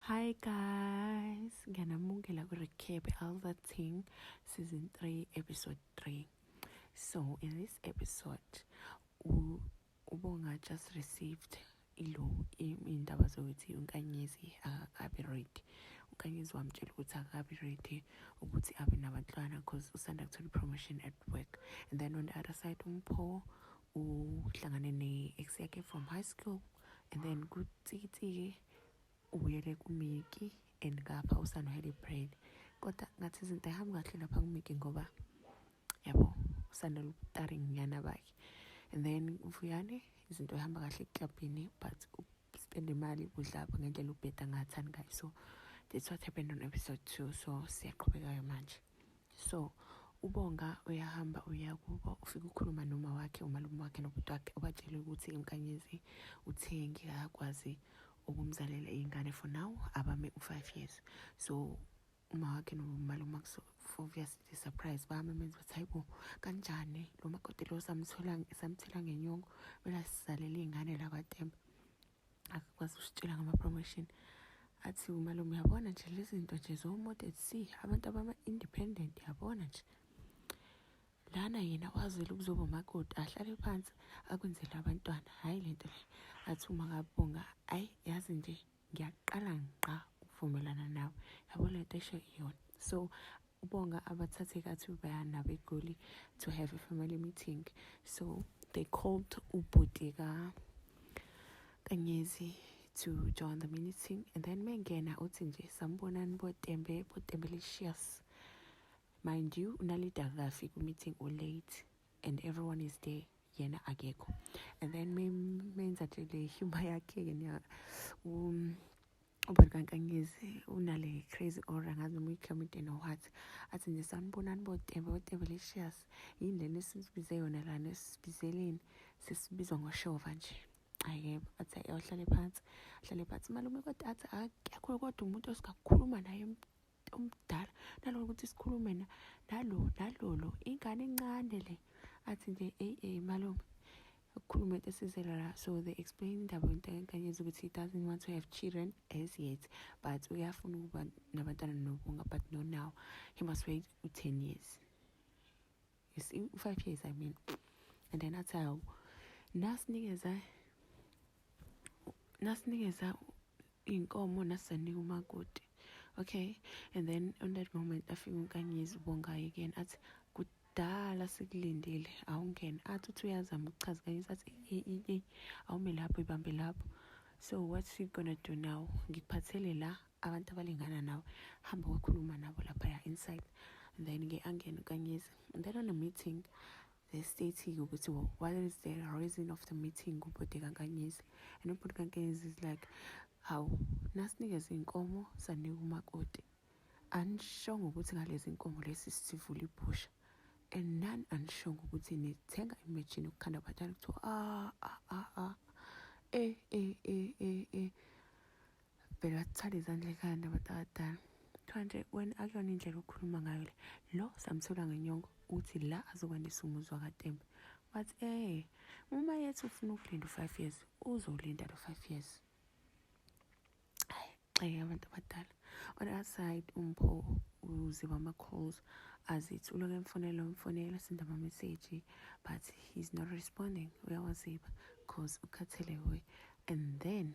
Hi guys, ngiyanamukela ku-recap all the thing season 3 episode 3. So in this episode ubonga just received ilo indaba zokuthi unkanyezi akabi ready. Unkanyezi wamtshela ukuthi akabi ready ukuthi abe nabantwana cause usanda kuthola i-promotion at work. And then on the other side umpho uhlangane ne-ex yakhe from high school and then kutsitike ubuyele kumiki and ngapha usano had a brain kodwa ngathi izinto ayihambi kahle lapha kumiki ngoba yabo usano lutaring nyana bakhe and then mfuyane izinto ihamba kahle eklabhini but spend imali budlapha ngendlela ubheda ngathani ngayo so that's what happened on episode two so siyaqhubekayo manje so ubonga uyahamba uya kubo ufike ukhuluma noma wakhe umalume wakhe nobhuti wakhe ubatshele ukuthi inkanyezi uthengi akakwazi ukumzalela iy'ngane for now abame u-five years so uma wakhe nomalume obviously surprise bami menza ukuthi hayi bo kanjani lo makoti lo samthela ngenyongo kumele asizalele iy'ngane la kwatemba akakwazi ukusitshela ngama-promotion athi umalume uyabona nje lezi zinto nje zo-model c abantu abama-independent yabona nje lana yena wazela ukuzoba umakoti ahlale phansi akwenzele abantwana hhayi le nto le athi uma kabonga ayi yazi nje ngiyaqala ngiqa ukuvumelana nawe yabo le nto esho iyona so ubonga abathathe kathi baya nabegoli to have a family meeting so they called ubhuti ka kanyezi to join the meeting and then mengena uthi nje sambonani botembe botembelicious mind you unalida kafi ku-meeting ulate and everyone is there yena akekho and then menza nje le humor yakhe-ke um, ubani kankangizi unale crazy or angazi noma uyiclamideni or what athi nje sanibonani botebe botebe lecious yini lena esisibize yona lana esibizeleni sesibizwa ngoshova nje ayebo athi ayohlale phansi ahlale phansi malume kodwa athi akekho kodwa umuntu osikakhuluma naye omdala nalona ukuthi sikhulume na nalo nalolo ingane encane le athi nje eyi eyi malume ukukhuluma into esizela la so they explain indaba yontankanyezi ukuthi he doesn't want to have children as yet but uyafuna ukuba nabantwana nobunga but no now he must wait u-ten years you see u-five years i mean and then athi hawu nasinikeza nasinikeza iy'nkomo nasizanika umakoti okay and then on that moment afika unkanyizi ubongayo again athi kudala sikulindile awungene athi uthi uyazama ukuchaza kanye sathi awume lapho ibambe lapho so what's she gonna do now ngikuphathele la abantu abalingana nawe hamba wakhuluma nabo laphaya inside then-ke angene ukanyiza then on a meeting they stating ukuthi well, what is the reason of the meeting ubhuti kankanyiza and ubhuti kankanyiza is like hawu nasinikeza iy'nkomo sanika umakoti anishongo ukuthi ngalezi nkomo lesi sivula ibhusha and none anishongo ukuthi nithenga imajini yokukhanda abatshana kuthiwa ah ah ah ah eh eh eh eh eh vele wathwala izandla ekhaya nabantu abadala kuthiwa nje wena akuyona indlela okhuluma ngayo le lo samthola ngenyongo uthi la azokwandisa umuzi wakatembe wathi eh uma yethi ufuna ukulinda u-five years uzolinda lo five years ayi abantu abadala on the other side umpho uziba ama-calls azithi uloke emfonela umfonela senda ama-message but he's not responding uyawaziba because ukhathele we and then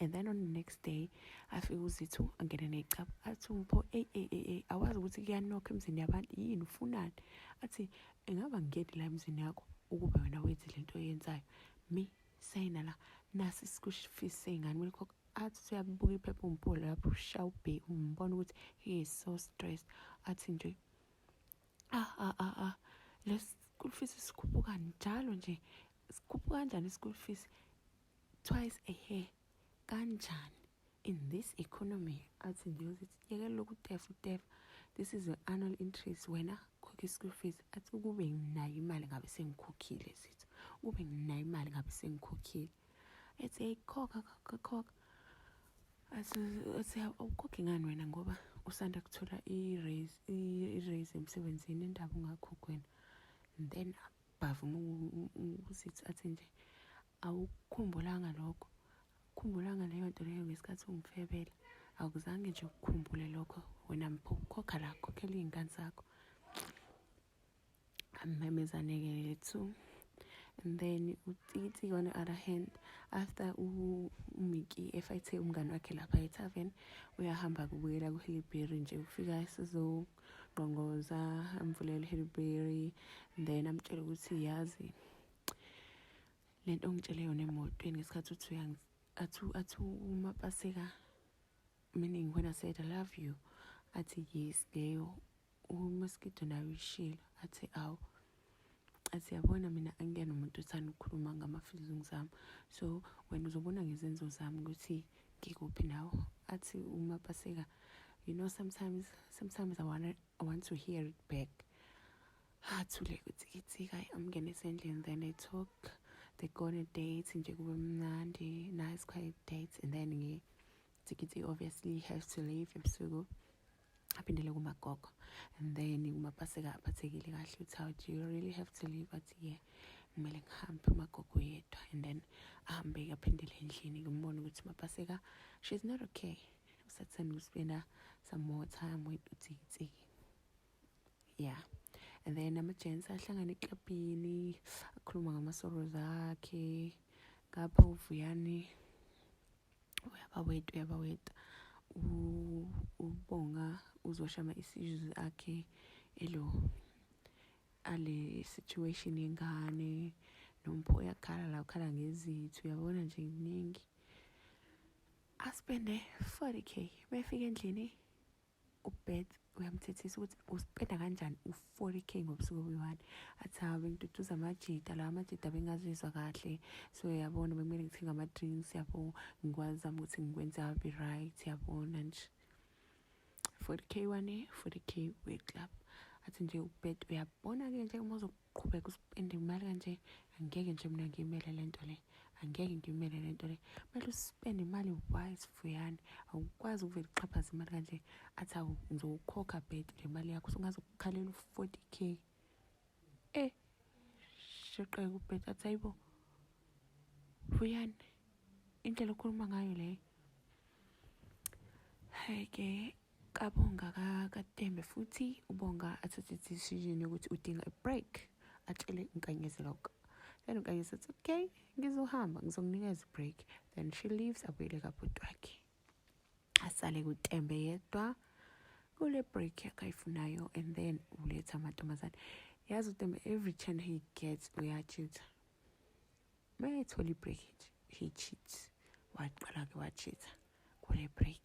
and then on the next day afike uzithu angene necaba athi umpho eyi eyi eyi awazi ukuthi kuyanokho emzini yabantu yini ufunani athi engaba ngingeni la emzini yakho ukuba wena wenze le nto oyenzayo me sayina la nasi isikushifisi seyingane kumele khokho athi usuyabuka iphepha umpolo lapho usha ubhe umbona ukuthi he is so stressed athi nje ah ah ah ah le school fees sikhuphuka njalo nje sikhuphuka kanjani i-school fees twice a year kanjani in this economy athi nje uzithi yekela lokhu tefu tefu this is an annual interest wena khokha i-school fees athi ukube nginayo imali ngabe sengikhokhile sithi ukube nginayo imali ngabe sengikhokhile ethi hey khokha khokha khokha athi awukhokhi ngani wena ngoba usanda kuthola i-raise emsebenzini indaba ungakhokhi wena then bavuma ukuthi athi nje awukukhumbulanga lokho khumbulanga leyo nto leyo ngesikhathi ungifebela akuzange nje ukukhumbule lokho wena mpho khokha la khokhela iy'ngane zakho amemezane-ke lethu and then utsitsi on the other hand after umiki efayithe umngane wakhe lapha ethaven uyahamba kubuyela kuhilibheri nje ufika sizo ngqongoza amvulele uHillberry then amtshele ukuthi yazi le nto ongitshele yona emotweni ngesikhathi uthi athi athi uma paseka meaning when I said I love you athi yes leyo umaskido nayo ishilo athi awu siyabona mina angiyena umuntu othanda ukukhuluma ngama-feelings ami so wena uzobona ngezenzo zami ukuthi ngikuphi nawo athi uma baseka you know sometimes sometimes I, wanna, I want to hear it back athule ukuthi kithika amngene esendlini then they talk they go on a date nje kube mnandi nice quiet date and then ngi Tsikitsi obviously have to leave ebusuku aphindele kumagogo and then kumapaseka aphathekile kahle uthi how do you really have to leave athi ye kumele ngihambe umagogo yedwa and then ahambe-ke aphindele endlini ngimbone ukuthi mapaseka she's not okay usathanda ukuspenda some more time with utsiki yeah and then ama-gents ahlangane eklabhini akhuluma ngama-sorrows akhe ngapha uvuyani uyabaweta uyabaweta ubonga uzoshama isizwe akhe elo ale situation yengane nompho uyakhala la ukhala ngezithu uyabona nje kuningi aspende 40k befika endlini ubeth uyamthethisa ukuthi uspenda kanjani u-forty k ngobusuku obuyi-one athi hawu bengiduduza amajita lawa amajita bengazizwa kahle so yabona bekumele ngithenga ama-drinks yabo ngikwazama ukuthi ngikwenze abe right yabona nje forty k one forty k we-club athi nje ubed uyabona-ke nje uma qhubeka uspende imali kanje angeke nje mina ngiyimele le nto le angeke ngiyimele le nto le kumele uspende imali wise fuyane awukwazi ukuvele uxhaphaze imali kanje athi awu ngizowukhokha bed le mali yakho sungaze ukukhalela u-forty k e eh, sheqeke ubed athi ayibo fuyane indlela okhuluma ngayo leyo hayi ke kabonga katembe futhi ubonga athathe decision yokuthi udinga i-break atshele inkanyezi lokho then unkanyezi athi okay ngizohamba ngizokunikeza i-break then she leaves abuyele kabhuti wakhe asale kutembe yedwa kule break yakhe ayifunayo and then uletha amantombazane yazi utembe every chance he gets uyachitha mayethola i-break he cheats waqala-ke wachitha kule break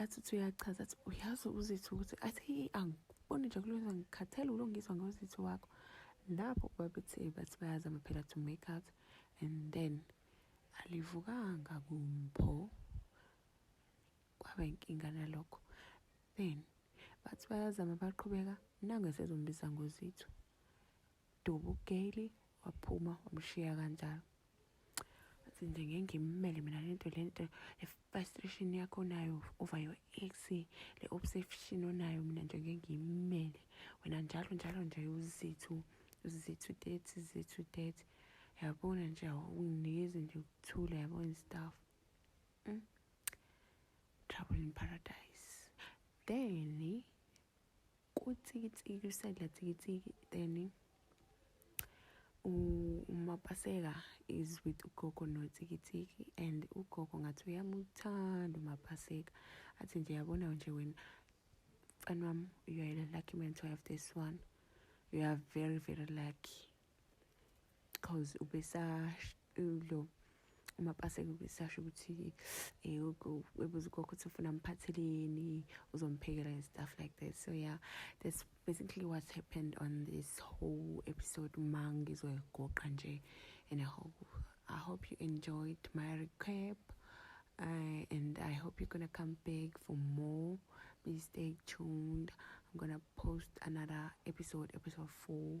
athi uthi uyachaza athi uyazi uzithi ukuthi athi angiboni nje kulona ngikhathele ulo ngizwa ngozithi wakho lapho babethe bathi bayazama phela to make out and then alivukanga kumpho kwaba inkinga nalokho then bathi bayazama baqhubeka nangesezombiza ngozithu Dubu Gaily waphuma wamshiya kanjalo athi nje ngeke ngimmele mina lento lento le frustration yakho nayo over your ex le obsession onayo mina nje ngeke ngimmele wena njalo njalo nje uzithu uzithu that uzithu that yabona nje awunginikezi nje ukuthula yabona stuff mm? trouble in paradise then kutsikitsiki usadla tsikitsiki then umapaseka is with ugogo notsikitsiki and ugogo ngathi uyamuthanda umapaseka athi nje yabona nje wena mfana wami you are a lucky man to have this one you are very very lucky cause ubesasho lo umapaseka ubesasho ukuthi eh, ebuza ugogo ukuthi ufuna amphatheleni uzomphekela and stuff like that so yeah that's basically what happened on this whole episode uma ngizoyigoqa nje and i hope i hope you enjoyed my recap uh, and I hope you're gonna come back for more. Please stay tuned. I'm gonna post another episode, episode four.